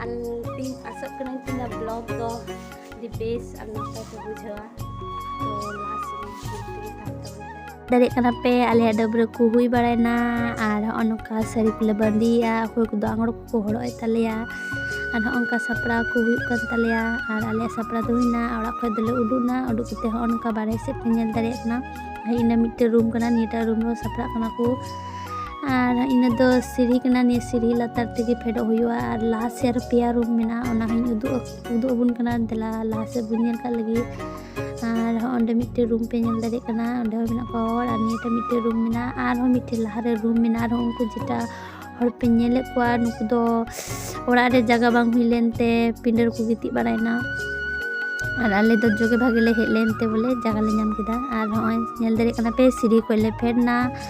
ᱟᱨ ᱛᱤᱧ ᱟᱥᱚᱜ ᱠᱟᱹᱱᱟᱹᱧ ᱛᱤᱧ ᱵᱞᱚᱜ ᱫᱚ ᱟᱹᱰᱤ ᱵᱮᱥ ᱟᱨ ᱱᱟᱯᱟᱭ ᱯᱮ ᱵᱩᱡᱷᱟᱹᱣᱟ ᱛᱚ ᱞᱟᱦᱟ ᱥᱮᱫ ᱧᱮᱞ ᱛᱮᱜᱮ ᱛᱟᱦᱮᱱ ᱛᱟᱵᱚᱱ ᱯᱮ ᱫᱟᱲᱮᱭᱟᱜ ᱠᱟᱱᱟ ᱯᱮ ᱟᱞᱮᱭᱟᱜ ᱰᱟᱹᱵᱽᱨᱟᱹ ᱠᱚ ᱦᱩᱭ ᱵᱟᱲᱟᱭᱮᱱᱟ ᱟᱨ ᱦᱚᱸᱜᱼᱚ ᱱᱚᱝᱠᱟ ᱥᱟᱹᱲᱤ ᱠᱚᱞᱮ ᱵᱟᱸᱫᱮᱭᱮᱜᱼᱟ ᱚᱠᱚᱭ ᱠᱚᱫᱚ ᱟᱝᱨᱚ ᱠᱚᱠᱚ ᱦᱚᱨᱚᱜ ᱮᱫ ᱛᱟᱞᱮᱭᱟ ᱟᱨ ᱦᱚᱸᱜᱼᱚ ᱱᱚᱝᱠᱟ ᱥᱟᱯᱲᱟᱣ ᱠᱚ ᱦᱩᱭᱩᱜ ᱠᱟᱱ ᱛᱟᱞᱮᱭᱟ ᱟᱨ ᱟᱞᱮᱭᱟᱜ ᱥᱟᱯᱲᱟᱣ ᱫᱚ ᱦᱩᱭᱱᱟ ᱚᱲᱟᱜ ᱠᱷᱚᱡ ᱫᱚᱞᱮ ᱩᱰᱩᱠᱱᱟ ᱩᱰᱩᱠ ᱠᱟᱛᱮ ᱦᱚᱸᱜᱼᱚ ᱱᱚᱝᱠᱟ ᱵᱟᱨᱦᱮ ᱥᱮᱫ ᱯᱮ ᱧᱮᱞ ᱫᱟᱲᱮᱭᱟᱜ ᱠᱟᱱᱟ ᱦᱮᱡ ᱮᱱᱟ ᱢᱤᱫᱴᱮᱱ ᱨᱩᱢ ᱠᱟᱱᱟ ᱱᱤᱭᱟᱹᱴᱟᱜ ᱨᱩᱢ ᱨᱮᱦᱚᱸ ᱥᱟᱯᱲᱟᱜ ᱠᱟᱱᱟ ᱠᱚ ᱟᱨ ᱤᱱᱟᱹ ᱫᱚ ᱥᱤᱲᱦᱤ ᱠᱟᱱᱟ ᱱᱤᱭᱟᱹ ᱥᱤᱲᱦᱤ ᱞᱟᱛᱟᱨ ᱛᱮᱜᱮ ᱯᱷᱮᱰᱚᱜ ᱦᱩᱭᱩᱜᱼᱟ ᱟᱨ ᱞᱟᱦᱟ ᱥᱮᱫ ᱨᱮ ᱯᱮᱭᱟ ᱨᱩᱢ ᱢᱮᱱᱟᱜᱼᱟ ᱚᱱᱟ ᱦᱚᱸᱧ ᱩᱫᱩᱜ ᱩᱫᱩᱜ ᱟᱵᱚᱱ ᱠᱟᱱᱟ ᱫᱮᱞᱟ ᱞᱟᱦᱟ ᱥᱮᱫ ᱵᱚᱱ ᱧᱮᱞ ᱠᱟᱜ ᱞᱟᱹᱜᱤᱫ ᱟᱨ ᱚᱸᱰᱮ ᱢᱤᱫᱴᱮᱱ ᱨᱩᱢ ᱯᱮ ᱧᱮᱞ ᱫᱟᱲᱮᱭᱟᱜ ᱠᱟᱱᱟ ᱚᱸᱰᱮ ᱦᱚᱸ ᱢᱮᱱᱟᱜ ᱠᱚᱣᱟ ᱦᱚᱲ ᱟᱨ ᱱᱤᱭᱟᱹᱴᱟᱜ ᱢᱤᱫᱴᱮᱱ ᱨᱩᱢ ᱢᱮᱱᱟᱜᱼᱟ ᱟᱨᱦᱚᱸ ᱢᱤᱫᱴᱮᱱ ᱞᱟᱦᱟᱨᱮ ᱨᱩᱢ ᱢᱮᱱᱟᱜᱼᱟ ᱟᱨᱦᱚᱸ ᱩᱱᱠᱩ ᱡᱮᱴᱟ ᱦᱚᱲ ᱯᱮ ᱧᱮᱞᱮᱫ ᱠᱚᱣᱟ ᱱᱩᱠᱩ ᱫᱚ ᱚᱲᱟᱜ ᱨᱮ ᱡᱟᱭᱜᱟ ᱵᱟᱝ ᱦᱩᱭ ᱞᱮᱱᱛᱮ ᱯᱤᱸᱰᱟᱹ ᱨᱮᱠᱚ ᱜᱤᱛᱤᱡ ᱵᱟᱲᱟᱭᱮᱱᱟ ᱟᱨ ᱟᱞᱮ ᱫᱚ ᱡᱚᱜᱮ ᱵᱷᱟᱜᱮ ᱞᱮ ᱦᱮᱡ ᱞᱮᱱᱛᱮ ᱵᱚᱞᱮ ᱡᱟᱭᱜᱟ ᱞᱮ ᱧᱟᱢ ᱠᱮᱫᱟ ᱟᱨ ᱦᱚᱸᱜᱼᱚᱭ ᱧᱮᱞ ᱫᱟᱲᱮᱭᱟᱜ ᱠᱟᱱᱟ ᱯᱮ ᱥᱤᱲᱦᱤ ᱠᱷᱚᱱ ᱞᱮ ᱯᱷᱮᱰ ᱮᱱᱟ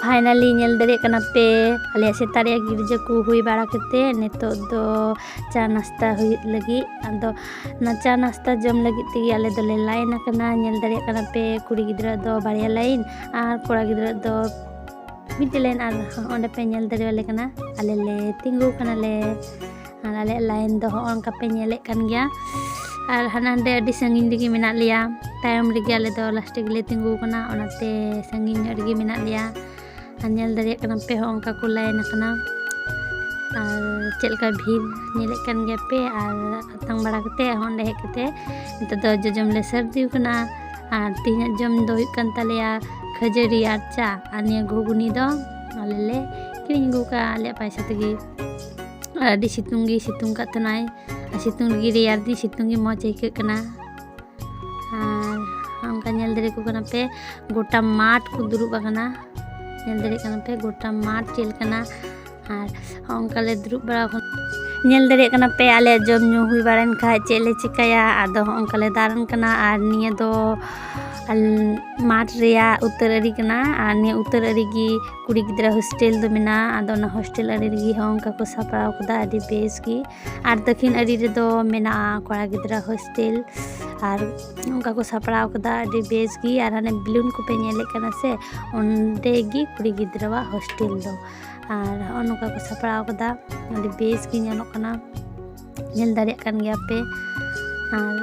ᱯᱷᱟᱭᱱᱟᱞᱤ ᱧᱮᱞ ᱫᱟᱲᱮᱭᱟᱜ ᱠᱟᱱᱟ ᱯᱮ ᱟᱞᱮᱭᱟᱜ ᱥᱮᱛᱟᱜ ᱨᱮᱭᱟᱜ ᱜᱤᱨᱡᱟᱹ ᱠᱚ ᱦᱩᱭ ᱵᱟᱲᱟ ᱠᱟᱛᱮᱫ ᱱᱤᱛᱚᱜ ᱫᱚ ᱪᱟ ᱱᱟᱥᱛᱟ ᱦᱩᱭᱩᱜ ᱞᱟᱹᱜᱤᱫ ᱟᱫᱚ ᱚᱱᱟ ᱪᱟ ᱱᱟᱥᱛᱟ ᱡᱚᱢ ᱞᱟᱹᱜᱤᱫ ᱛᱮᱜᱮ ᱟᱞᱮ ᱫᱚᱞᱮ ᱞᱟᱭᱤᱱ ᱟᱠᱟᱱᱟ ᱧᱮᱞ ᱫᱟᱲᱮᱭᱟᱜ ᱠᱟᱱᱟ ᱯᱮ ᱠᱩᱲᱤ ᱜᱤᱫᱽᱨᱟᱹ ᱫᱚ ᱵᱟᱨᱭᱟ ᱞᱟᱭᱤᱱ ᱟᱨ ᱠᱚᱲᱟ ᱜᱤᱫᱽᱨᱟᱹ ᱫᱚ ᱢᱤᱫᱴᱮᱡ ᱞᱟᱭᱤᱱ ᱟᱨ ᱚᱸᱰᱮ ᱯᱮ ᱧᱮᱞ ᱫᱟᱲᱮᱭᱟᱞᱮ ᱠᱟᱱᱟ ᱟᱞᱮ ᱞᱮ ᱛᱤᱸᱜᱩ ᱠᱟᱱᱟᱞᱮ ᱟᱨ ᱟᱞᱮᱭᱟᱜ ᱞᱟᱭᱤᱱ ᱫᱚ ᱦᱚᱸᱜᱼᱚ ᱱᱚᱝᱠᱟ ᱯᱮ ᱧᱮᱞᱮᱫ ᱠᱟᱱ ᱜᱮᱭᱟ ᱟᱨ ᱦᱟᱱᱟ ᱱᱟᱰᱮ ᱟᱹᱰᱤ ᱥᱟᱺᱜᱤᱧ ᱨᱮᱜᱮ ᱢᱮᱱᱟᱜ ᱞᱮᱭᱟ ᱛᱟᱭᱚᱢ ᱨᱮᱜᱮ ᱟᱞᱮ ᱫᱚ ᱞᱟᱥᱴ ᱨᱮᱜᱮᱞᱮ ᱛᱤᱸᱜᱩ ᱟᱠᱟᱱᱟ ᱚᱱᱟᱛᱮ ᱥᱟᱺᱜᱤᱧ ᱧᱚᱜ ᱨᱮᱜᱮ ᱢᱮᱱᱟᱜ ᱞᱮᱭᱟ ᱟᱨ ᱧᱮᱞ ᱫᱟᱲᱮᱭᱟᱜ ᱠᱟᱱᱟ ᱯᱮ ᱦᱚᱸ ᱚᱱᱠᱟ ᱠᱚ ᱞᱟᱭᱤᱱ ᱟᱠᱟᱱᱟ ᱟᱨ ᱪᱮᱫ ᱞᱮᱠᱟ ᱵᱷᱤᱲ ᱧᱮᱞᱮᱫ ᱠᱟᱱ ᱜᱮᱭᱟ ᱯᱮ ᱟᱨ ᱟᱛᱟᱝ ᱵᱟᱲᱟ ᱠᱟᱛᱮ ᱦᱚᱸ ᱚᱸᱰᱮ ᱦᱮᱡ ᱠᱟᱛᱮ ᱱᱤᱛᱚᱜ ᱫᱚ ᱡᱚᱡᱚᱢ ᱞᱮ ᱥᱟᱹᱨᱫᱤ ᱟᱠᱟᱱᱟ ᱟᱨ ᱛᱮᱦᱮᱧᱟᱜ ᱡᱚᱢ ᱫᱚ ᱦᱩᱭᱩᱜ ᱠᱟᱱ ᱛᱟᱞᱮᱭᱟ ᱠᱷᱟᱹᱡᱟᱹᱲᱤ ᱟᱨ ᱪᱟ ᱟᱨ ᱱᱤᱭᱟᱹ ᱜᱷᱩᱜᱽᱱᱤ ᱫᱚ ᱟᱞᱮ ᱞᱮ ᱠᱤᱨᱤᱧ ᱟᱹᱜᱩ ᱠᱟᱜᱼᱟ ᱟᱞᱮᱭᱟᱜ ᱯᱚᱭᱥᱟ ᱛᱮᱜᱮ ᱟᱹᱰᱤ ᱥᱤᱛᱩᱝ ᱜᱮ ᱥᱤᱛᱩᱝ ᱠᱟᱜ ᱛᱟᱦᱮᱱᱟᱭ ᱟᱨ ᱥᱤᱛᱩᱝ ᱨᱮᱜᱮ ᱨᱮᱭᱟᱲ ᱫᱤᱱ ᱥᱤᱛᱩᱝ ᱜᱮ ᱢᱚᱡᱽ ᱟᱹᱭᱠᱟᱹᱜ ᱠᱟᱱᱟ ᱟᱨ ᱚᱱᱠᱟ ᱧᱮᱞ ᱫᱟᱲᱮ ᱠᱚ ᱠᱟᱱᱟ ᱯᱮ ᱜᱚᱴᱟ ᱢᱟᱴᱷ ᱠᱚ ᱫᱩᱲᱩᱵ ᱟᱠᱟᱱᱟ ᱧᱮᱞ ᱫᱟᱲᱮ ᱠᱟᱱᱟ ᱯᱮ ᱜᱚᱴᱟ ᱢᱟᱴᱷ ᱪᱮᱫ ᱞᱮᱠᱟᱱᱟ ᱟᱨ ᱚᱱᱠᱟ ᱞᱮ ᱫᱩᱲᱩᱵ ᱵᱟᱲᱟ ᱟᱠᱟᱱᱟ ᱧᱮᱞ ᱫᱟᱲᱮ ᱠᱟᱱᱟ ᱯᱮ ᱟᱞᱮ ᱡᱚᱢ ᱧᱩ ᱦᱩᱭ ᱵᱟᱲᱟᱭᱮᱱ ᱠᱷᱟᱡ ᱪᱮᱫ ᱞᱮ ᱪᱤᱠᱟᱹᱭᱟ ᱟᱫᱚ ᱚᱱᱠᱟ ᱞᱮ ᱫᱟᱬᱟᱱ ᱠᱟᱱᱟ ᱟᱨ ᱱᱤᱭᱟᱹ ᱫᱚ ᱢᱟᱴᱷ ᱨᱮᱭᱟᱜ ᱩᱛᱟᱹᱨ ᱟᱹᱨᱤ ᱠᱟᱱᱟ ᱟᱨ ᱱᱤᱭᱟᱹ ᱩᱛᱟᱹᱨ ᱟᱹᱨᱤ ᱜᱮ ᱠᱩᱲᱤ ᱜᱤᱫᱽᱨᱟᱹ ᱦᱳᱥᱴᱮᱞ ᱫᱚ ᱢᱮᱱᱟᱜᱼᱟ ᱟᱫᱚ ᱚᱱᱟ ᱦᱳᱥᱴᱮᱞ ᱟᱲᱮ ᱨᱮᱜᱮ ᱦᱚᱸ ᱚᱱᱠᱟ ᱠᱚ ᱥᱟᱯᱲᱟᱣ ᱠᱟᱫᱟ ᱟᱹᱰᱤ ᱵᱮᱥ ᱜᱮ ᱟᱨ ᱫᱟᱹᱠᱷᱤᱱ ᱟᱲᱮ ᱨᱮᱫᱚ ᱢᱮᱱᱟᱜᱼᱟ ᱠᱚᱲᱟ ᱜᱤᱫᱽᱨᱟᱹ ᱦᱳᱥᱴᱮᱞ ᱟᱨ ᱚᱱᱠᱟ ᱠᱚ ᱥᱟᱯᱲᱟᱣ ᱠᱟᱫᱟ ᱟᱹᱰᱤ ᱵᱮᱥ ᱜᱮ ᱟᱨ ᱦᱟᱱᱮ ᱵᱮᱞᱩᱱ ᱠᱚᱯᱮ ᱧᱮᱞᱮᱫ ᱠᱟᱱᱟ ᱥᱮ ᱚᱸᱰᱮ ᱜᱮ ᱠᱩᱲᱤ ᱜᱤᱫᱽᱨᱟᱹᱣᱟᱜ ᱦᱳᱥᱴᱮᱞ ᱫᱚ ᱟᱨ ᱦᱚᱸᱜᱼᱚ ᱱᱚᱝᱠᱟ ᱠᱚ ᱥᱟᱯᱲᱟᱣ ᱠᱟᱫᱟ ᱟᱹᱰᱤ ᱵᱮᱥ ᱜᱮ ᱧᱮᱞᱚᱜ ᱠᱟᱱᱟ ᱧᱮᱞ ᱫᱟᱲᱮᱭᱟᱜ ᱠᱟᱱ ᱜᱮᱭᱟ ᱯᱮ ᱟᱨ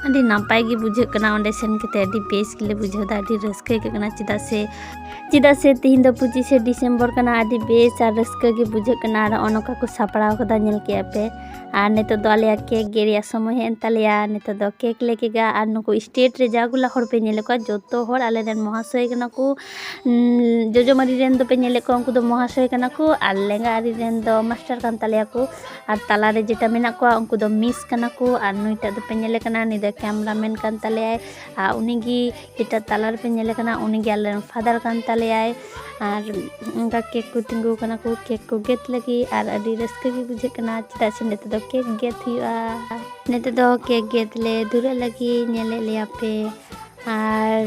ᱟᱹᱰᱤ ᱱᱟᱯᱟᱭ ᱜᱮ ᱵᱩᱡᱷᱟᱹᱜ ᱠᱟᱱᱟ ᱚᱸᱰᱮ ᱥᱮᱱ ᱠᱟᱛᱮ ᱟᱹᱰᱤ ᱵᱮᱥ ᱜᱮᱞᱮ ᱵᱩᱡᱷᱟᱹᱣ ᱮᱫᱟ ᱟᱹᱰᱤ ᱨᱟᱹᱥᱠᱟᱹ ᱟᱹᱭᱠᱟᱹᱜ ᱠᱟᱱᱟ ᱪᱮᱫᱟᱜ ᱥᱮ ᱪᱮᱫᱟᱜ ᱥᱮ ᱛᱤᱦᱤᱧ ᱫᱚ ᱯᱚᱸᱪᱤᱥᱮ ᱰᱤᱥᱮᱢᱵᱚᱨ ᱠᱟᱱᱟ ᱟᱹᱰᱤ ᱵᱮᱥ ᱟᱨ ᱨᱟᱹᱥᱠᱟᱹ ᱜᱮ ᱵᱩᱡᱷᱟᱹᱜ ᱠᱟᱱᱟ ᱟᱨ ᱱᱚᱜᱼᱚ ᱱᱚᱝᱠᱟ ᱠᱚ ᱥᱟᱯᱲᱟᱣ ᱠᱟᱫᱟ ᱧᱮᱞ ᱠᱮᱜᱼᱟ ᱯᱮ ᱟᱨ ᱱᱤᱛᱚᱜ ᱫᱚ ᱟᱞᱮᱭᱟᱜ ᱠᱮᱠ ᱜᱮ ᱨᱮᱭᱟᱜ ᱥᱚᱢᱚᱭ ᱦᱮᱡ ᱮᱱ ᱛᱟᱞᱮᱭᱟ ᱱᱤᱛᱚᱜ ᱫᱚ ᱠᱮᱠ ᱞᱮ ᱠᱮᱠᱟ ᱟᱨ ᱱᱩᱠᱩ ᱥᱴᱮᱴ ᱨᱮ ᱡᱟ ᱜᱩᱞᱟ ᱦᱚᱲ ᱯᱮ ᱧᱮᱞᱮᱫ ᱠᱚᱣᱟ ᱡᱚᱛᱚ ᱦᱚᱲ ᱟᱞᱮ ᱨᱮᱱ ᱢᱚᱦᱟᱥᱚᱭ ᱠᱟᱱᱟ ᱠᱚ ᱡᱚᱡᱚ ᱢᱟᱹᱨᱤ ᱨᱮᱱ ᱫᱚᱯᱮ ᱧᱮᱞᱮᱫ ᱠᱚᱣᱟ ᱩᱱᱠᱩ ᱫᱚ ᱢᱚᱦᱟᱥᱚᱭ ᱠᱟᱱᱟ ᱠᱚ ᱟᱨ ᱞᱮᱸᱜᱟ ᱟᱹᱨᱤ ᱨᱮᱱ ᱫᱚ ᱢᱟᱥᱴᱟᱨ ᱠᱟᱱ ᱛᱟᱞᱮᱭᱟ ᱠᱚ ᱟᱨ ᱛᱟᱞᱟ ᱨᱮ ᱡᱮᱴᱟ ᱢᱮᱱᱟᱜ ᱠᱚᱣᱟ ᱩᱱᱠᱩ ᱫᱚ ᱢᱤᱥ ᱠᱟᱱᱟ ᱠᱚ ᱟᱨ ᱱᱩᱭᱴᱟᱜ ᱫᱚᱯᱮ ᱧᱮᱞᱮ ᱠᱟᱱᱟ ᱱᱩᱭ ᱫᱚ ᱠᱮᱢᱨᱟ ᱢᱮᱱ ᱠᱟᱱ ᱛᱟᱞᱮᱭᱟᱭ ᱟᱨ ᱩᱱᱤ ᱜᱮ ᱡᱮᱴᱟ ᱛᱟᱞᱟ ᱨᱮᱯᱮ ᱧᱮᱞᱮ ᱠᱟᱱᱟ ᱩᱱᱤ ᱜᱮ ᱟᱞᱮ ᱨᱮᱱ ᱯᱷᱟᱫᱟᱨ ᱠᱟᱱ ᱛᱟᱞᱮᱭᱟᱭ ᱟᱨ ᱚᱱᱠᱟ ᱠᱮᱠ ᱠᱚ ᱛᱤᱸᱜᱩᱣ ᱠᱟᱱᱟ ᱠᱚ ᱠᱮᱠ ᱠᱚ ᱜᱮᱫ ᱞᱟᱹᱜᱤᱫ ᱟᱨ ᱟᱹᱰᱤ ᱨᱟᱹᱥᱠᱟᱹ ᱜᱮ ᱵᱩᱡᱷᱟᱹᱜ ᱠᱟᱱᱟ ᱪᱮᱫᱟᱜ ᱥᱮ ᱱᱤᱛᱚᱜ ᱫᱚ ᱠᱮᱠ ᱜᱮᱫ ᱦᱩᱭᱩᱜᱼᱟ ᱱᱤᱛᱚᱜ ᱫᱚ ᱠᱮᱠ ᱜᱮᱫ ᱞᱮ ᱫᱷᱩᱨᱟᱹᱜ ᱞᱟᱹᱜᱤᱫ ᱧᱮᱞᱮᱫ ᱞᱮᱭᱟ ᱯᱮ ᱟᱨ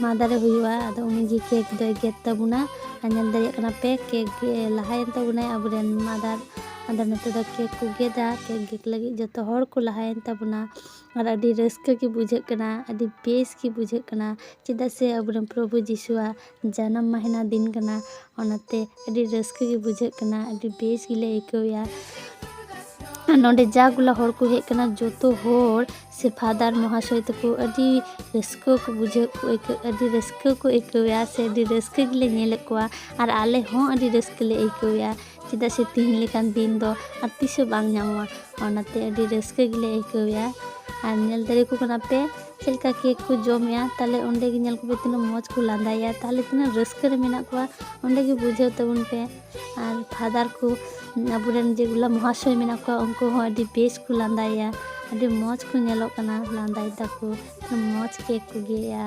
ᱢᱟ ᱫᱟᱨᱮ ᱦᱩᱭᱩᱜᱼᱟ ᱟᱫᱚ ᱩᱱᱤᱜᱮ ᱠᱮᱠ ᱫᱚᱭ ᱜᱮᱫ ᱛᱟᱵᱚᱱᱟ ᱟᱨ ᱧᱮᱞ ᱫᱟᱲᱮᱭᱟᱜ ᱠᱟᱱᱟ ᱯᱮ ᱠᱮᱠ ᱞᱟᱦᱟᱭᱮᱱ ᱛᱟᱵᱚᱱᱟᱭ ᱟᱵᱚᱨᱮᱱ ᱢᱟᱫᱟᱨ ᱟᱫᱚ ᱱᱤᱛᱚᱜ ᱫᱚ ᱠᱮᱠ ᱠᱚ ᱜᱮᱫᱟ ᱠᱮᱠ ᱜᱮᱫ ᱞᱟᱹᱜᱤᱫ ᱡᱚᱛᱚ ᱦᱚᱲ ᱠᱚ ᱞᱟᱦᱟᱭᱮᱱ ᱛᱟᱵᱚᱱᱟ ᱟᱨ ᱟᱹᱰᱤ ᱨᱟᱹᱥᱠᱟᱹ ᱜᱮ ᱵᱩᱡᱷᱟᱹᱜ ᱠᱟᱱᱟ ᱟᱹᱰᱤ ᱵᱮᱥ ᱜᱮ ᱵᱩᱡᱷᱟᱹᱜ ᱠᱟᱱᱟ ᱪᱮᱫᱟᱜ ᱥᱮ ᱟᱵᱚᱨᱮᱱ ᱯᱨᱚᱵᱷᱩ ᱡᱤᱥᱩᱣᱟᱜ ᱡᱟᱱᱟᱢ ᱢᱟᱹᱦᱤᱛ ᱫᱤᱱ ᱠᱟᱱᱟ ᱚᱱᱟᱛᱮ ᱟᱹᱰᱤ ᱨᱟᱹᱥᱠᱟᱹ ᱜᱮ ᱵᱩᱡᱷᱟᱹᱜ ᱠᱟᱱᱟ ᱟᱹᱰᱤ ᱵᱮᱥ ᱜᱮᱞᱮ ᱟᱹᱭᱠᱟᱹᱣᱮᱜᱼᱟ ᱟᱨ ᱱᱚᱰᱮ ᱡᱟ ᱜᱩᱞᱟ ᱦᱚᱲ ᱠᱚ ᱦᱮᱡ ᱠᱟᱱᱟ ᱡᱚᱛᱚ ᱦᱚᱲ ᱥᱮ ᱯᱷᱟᱫᱟᱨ ᱢᱚᱦᱟᱥᱚᱭ ᱛᱟᱠᱚ ᱟᱹᱰᱤ ᱨᱟᱹᱥᱠᱟᱹ ᱠᱚ ᱵᱩᱡᱷᱟᱹᱣ ᱠᱚ ᱟᱹᱭᱠᱟᱹᱣ ᱟᱹᱰᱤ ᱨᱟᱹᱥᱠᱟᱹ ᱠᱚ ᱟᱹᱭᱠᱟᱹᱣᱮᱜᱼᱟ ᱥᱮ ᱟᱹᱰᱤ ᱨᱟᱹᱥᱠᱟᱹ ᱜᱮᱞᱮ ᱧᱮᱞᱮᱫ ᱠᱚᱣᱟ ᱟᱨ ᱟᱞᱮ ᱦᱚᱸ ᱟᱹᱰᱤ ᱨᱟᱹᱥᱠᱟᱹ ᱞᱮ ᱟᱹᱭᱠᱟᱹᱣᱮᱜᱼᱟ ᱪᱮᱫᱟᱜ ᱥᱮ ᱛᱤᱦᱤᱧ ᱞᱮᱠᱟᱱ ᱫᱤᱱ ᱫᱚ ᱟᱨ ᱛᱤᱥ ᱦᱚᱸ ᱵᱟᱝ ᱧᱟᱢᱚᱜᱼᱟ ᱚᱱᱟᱛᱮ ᱟᱹᱰᱤ ᱨᱟᱹᱥᱠᱟᱹ ᱜᱮᱞᱮ ᱟᱹᱭᱠᱟᱹᱣᱮᱜᱼᱟ ᱟᱨ ᱧᱮᱞ ᱫᱟᱲᱮ ᱟᱠᱚ ᱠᱟᱱᱟ ᱯᱮ ᱪᱮᱫ ᱞᱮᱠᱟ ᱠᱮᱠ ᱠᱚ ᱡᱚᱢᱮᱜᱼᱟ ᱛᱟᱦᱚᱞᱮ ᱚᱸᱰᱮ ᱜᱮ ᱧᱮᱞ ᱠᱚᱯᱮ ᱛᱤᱱᱟᱹᱜ ᱢᱚᱡᱽ ᱠᱚ ᱞᱟᱸᱫᱟᱭᱮᱜᱼᱟ ᱛᱟᱦᱚᱞᱮ ᱛᱤᱱᱟᱹᱜ ᱨᱟᱹᱥᱠᱟᱹ ᱨᱮ ᱢᱮᱱᱟᱜ ᱠᱚᱣᱟ ᱚᱸᱰᱮ ᱜᱮ ᱵᱩᱡᱷᱟᱹᱣ ᱛᱟᱵᱚᱱ ᱯᱮ ᱟᱨ ᱯᱷᱟᱫᱟᱨ ᱠᱚ ᱟᱵᱚ ᱨᱮᱱ ᱡᱮᱜᱩᱞᱟ ᱢᱚᱦᱟᱥᱚᱭ ᱢᱮᱱᱟᱜ ᱠᱚᱣᱟ ᱩᱱᱠᱩ ᱦᱚᱸ ᱟᱹᱰᱤ ᱵᱮᱥ ᱠᱚ ᱞᱟᱸᱫᱟᱭᱮᱜᱼᱟ ᱟᱹᱰᱤ ᱢᱚᱡᱽ ᱠᱚ ᱧᱮᱞᱚᱜ ᱠᱟᱱᱟ ᱞᱟᱸᱫᱟᱭ ᱫᱟᱠᱚ ᱢᱚᱡᱽ ᱠᱮᱠ ᱠᱚ ᱜᱮᱫ ᱮᱜᱼᱟ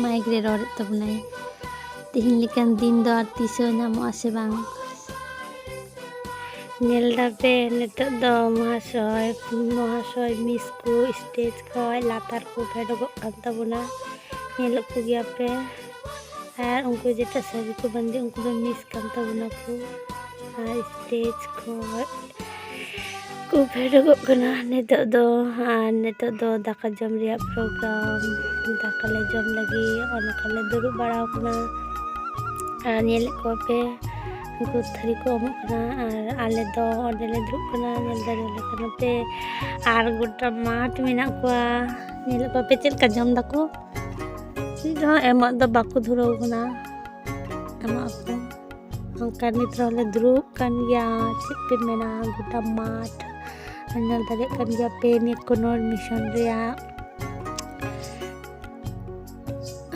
ᱢᱟᱭᱤᱠ ᱨᱮ ᱨᱚᱲᱮᱫ ᱛᱟᱵᱚᱱᱟᱭ ᱛᱮᱦᱮᱧ ᱞᱮᱠᱟᱱ ᱫᱤᱱ ᱫᱚ ᱟᱨ ᱛᱤᱥ ᱦᱚᱸ ᱧᱟᱢᱚᱜ ᱟᱥᱮ ᱵᱟᱝ ᱧᱮᱞ ᱫᱟᱯᱮ ᱱᱤᱛᱚᱜ ᱫᱚ ᱢᱚᱦᱟᱥᱚᱭ ᱢᱚᱦᱟᱥᱚᱭ ᱢᱤᱥ ᱠᱚ ᱥᱴᱮᱡᱽ ᱠᱷᱚᱡ ᱞᱟᱛᱟᱨ ᱠᱚ ᱯᱷᱮᱰᱚᱜᱚᱜ ᱠᱟᱱ ᱛᱟᱵᱚᱱᱟ ᱧᱮᱞᱚᱜ ᱠᱚ ᱜᱮᱭᱟᱯᱮ ᱟᱨ ᱩᱱᱠᱩ ᱡᱮᱴᱟ ᱥᱟᱹᱲᱤ ᱠᱚ ᱵᱟᱸᱫᱮ ᱩᱱᱠᱩ ᱫᱚ ᱢᱤᱥ ᱠᱟᱱ ᱛᱟᱵᱚᱱᱟᱠᱚ ᱟᱨ ᱥᱴᱮᱡᱽ ᱠᱷᱚᱡ ᱠᱚ ᱯᱷᱮᱰᱚᱜᱚᱜ ᱠᱟᱱᱟ ᱱᱤᱛᱚᱜ ᱫᱚ ᱟᱨ ᱱᱤᱛᱚᱜ ᱫᱚ ᱫᱟᱠᱟ ᱡᱚᱢ ᱨᱮᱭᱟᱜ ᱯᱨᱳᱜᱨᱟᱢ ᱫᱟᱠᱟ ᱞᱮ ᱡᱚᱢ ᱞᱟᱹᱜᱤᱫ ᱚᱱᱟ ᱠᱚᱞᱮ ᱫᱩᱲᱩᱵ ᱵᱟᱲᱟ ᱟᱠᱟᱱᱟ ᱟᱨ ᱧᱮᱞᱮᱫ ᱠᱚᱣᱟ ᱯᱮ ᱩᱱᱠᱩ ᱛᱷᱟᱹᱨᱤ ᱠᱚ ᱮᱢᱚᱜ ᱠᱟᱱᱟ ᱟᱨ ᱟᱞᱮ ᱫᱚ ᱚᱸᱰᱮ ᱞᱮ ᱫᱩᱲᱩᱵ ᱠᱟᱱᱟ ᱧᱮᱞ ᱫᱟᱲᱮᱭᱟᱞᱮ ᱠᱟᱱᱟ ᱯᱮ ᱟᱨ ᱜᱚᱴᱟ ᱢᱟᱴᱷ ᱢᱮᱱᱟᱜ ᱠᱚᱣᱟ ᱧᱮᱞᱮᱫ ᱠᱚᱣᱟ ᱯᱮ ᱪᱮᱫ ᱞᱮᱠᱟ ᱡᱚᱢ ᱫᱟᱠᱚ ᱪᱮᱫ ᱦᱚᱸ ᱮᱢᱚᱜ ᱫᱚ ᱵᱟᱠᱚ ᱫᱷᱩᱨᱟᱹᱣ ᱠᱟᱱᱟ ᱮᱢᱚᱜ ᱟᱠᱚ ᱚᱱᱠᱟ ᱱᱤᱛ ᱨᱮᱦᱚᱸ ᱞᱮ ᱫᱩᱲᱩᱵ ᱠᱟᱱ ᱜᱮᱭᱟ ᱪᱮᱫ ᱯᱮ ᱢᱮᱱᱟ ᱜᱚᱴᱟ ᱢᱟᱴᱷ ᱧᱮᱞ ᱫᱟᱲᱮᱭᱟᱜ ᱠᱟᱱ ᱜᱮᱭᱟ ᱯᱮ ᱱᱤᱭᱟᱹ ᱠᱳᱱᱳᱨ ᱢᱤᱥᱚᱱ ᱨᱮᱭᱟᱜ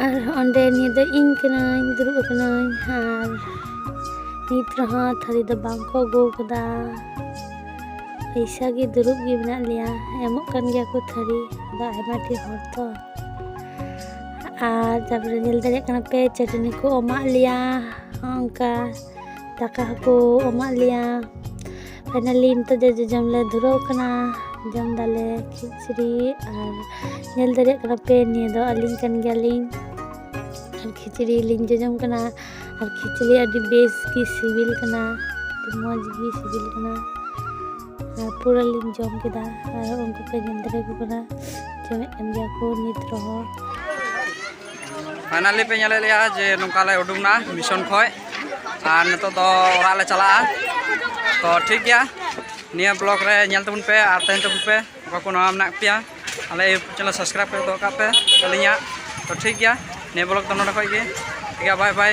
ᱟᱨ ᱚᱸᱰᱮ ᱱᱤᱭᱟᱹ ᱫᱚ ᱤᱧ ᱠᱟᱹᱱᱟᱹᱧ ᱫᱩᱲᱩᱵ ᱟᱠᱟᱱᱟᱹᱧ ᱟᱨ ᱱᱤᱛ ᱨᱮᱦᱚᱸ ᱛᱷᱟᱹᱨᱤ ᱫᱚ ᱵᱟᱝ ᱠᱚ ᱟᱹᱜᱩ ᱟᱠᱟᱫᱟ ᱯᱚᱭᱥᱟ ᱜᱮ ᱫᱩᱲᱩᱵ ᱜᱮ ᱢᱮᱱᱟᱜ ᱞᱮᱭᱟ ᱮᱢᱚᱜ ᱠᱟᱱ ᱜᱮᱭᱟ ᱠᱚ ᱛᱷᱟᱹᱨᱤ ᱟᱫᱚ ᱟᱭᱢᱟ ᱰᱷᱮᱨ ᱦᱚᱲ ᱛᱚ ᱟᱨ ᱛᱟᱨᱯᱚᱨᱮ ᱧᱮᱞ ᱫᱟᱲᱮᱭᱟᱜ ᱠᱟᱱᱟ ᱯᱮ ᱪᱟᱹᱴᱱᱤ ᱠᱚ ᱮᱢᱟᱜ ᱞᱮᱭᱟ ᱚᱱᱠᱟ ᱫᱟᱠᱟ ᱦᱚᱸᱠᱚ ᱮᱢᱟᱜ ᱞᱮᱭᱟ ᱯᱷᱟᱭᱱᱟᱞᱤ ᱱᱤᱛᱚᱜ ᱫᱚ ᱡᱚᱡᱚᱢ ᱞᱮ ᱫᱷᱩᱨᱟᱹᱣ ᱠᱟᱱᱟ ᱡᱚᱢ ᱫᱟᱞᱮ ᱠᱷᱤᱪᱲᱤ ᱟᱨ ᱧᱮᱞ ᱫᱟᱲᱮᱭᱟᱜ ᱠᱟᱱᱟ ᱯᱮ ᱱᱤᱭᱟᱹ ᱫᱚ ᱟᱹᱞᱤᱧ ᱠᱟᱱ ᱜᱮᱭᱟᱞᱤᱧ ᱟᱨ ᱠᱷᱤᱪᱲᱤ ᱞᱤᱧ ᱡᱚᱡᱚᱢ ᱠᱟᱱᱟ ᱟᱨ ᱠᱷᱤᱪᱲᱤ ᱟᱹᱰᱤ ᱵᱮᱥ ᱜᱮ ᱥᱤᱵᱤᱞ ᱠᱟᱱᱟ ᱟᱹᱰᱤ ᱢᱚᱡᱽ ᱜᱮ ᱥᱤᱵᱤᱞ ᱠᱟᱱᱟ ᱯᱩᱨᱟᱹ ᱞᱤᱧ ᱡᱚᱢ ᱠᱮᱫᱟ ᱟᱨ ᱩᱱᱠᱩ ᱠᱚ ᱧᱮᱞ ᱫᱟᱲᱮ ᱠᱚ ᱠᱟᱱᱟ ᱡᱚᱢᱮᱫ ᱠᱟᱱ ᱜᱮᱭᱟ ᱠᱚ ᱱᱤᱛ ᱨᱮᱦᱚᱸ ᱯᱷᱟᱭᱱᱟᱞᱤ ᱯᱮ ᱧᱮᱞᱮᱫ ᱞᱮᱭᱟ ᱡᱮ ᱱᱚᱝᱠᱟ ᱞᱮ ᱩᱰᱩᱠ ᱮᱱᱟ ᱢᱤᱥᱚᱱ ᱠᱷᱚᱡ ᱟᱨ ᱱᱤᱛᱚᱜ ᱫᱚ ᱚᱲᱟᱜ ᱞᱮ ᱪᱟᱞᱟᱜᱼᱟ ᱛᱚ ᱴᱷᱤᱠ ᱜᱮᱭᱟ ᱱᱤᱭᱟᱹ ᱵᱞᱚᱜ ᱨᱮ ᱧᱮᱞ ᱛᱟᱵᱚᱱ ᱯᱮ ᱟᱨ ᱛᱟᱦᱮᱱ ᱛᱟᱵᱚᱱ ᱯᱮ ᱚᱠᱟ ᱠᱚ ᱱᱟᱣᱟ ᱢᱮᱱᱟᱜ ᱯᱮᱭᱟ ᱟᱞᱮ ᱤᱭᱩᱴᱩᱵᱽ ᱪᱮᱱᱮᱞ ᱥᱟᱵᱥᱠᱨᱟᱭᱤᱵ ᱠᱚ ᱫᱚᱦᱚ ᱠᱟᱜ ᱯᱮ ᱟᱹᱞᱤᱧᱟᱜ ᱛᱚ ᱴᱷᱤᱠ ᱜᱮᱭᱟ ᱱᱤᱭᱟᱹ ᱵᱞᱚᱜ ᱫᱚ ᱱᱚᱰᱮ ᱠᱷᱚᱡ ᱜᱮ ᱴᱷᱤᱠ ᱜᱮᱭᱟ ᱵᱟᱭ ᱵᱟᱭ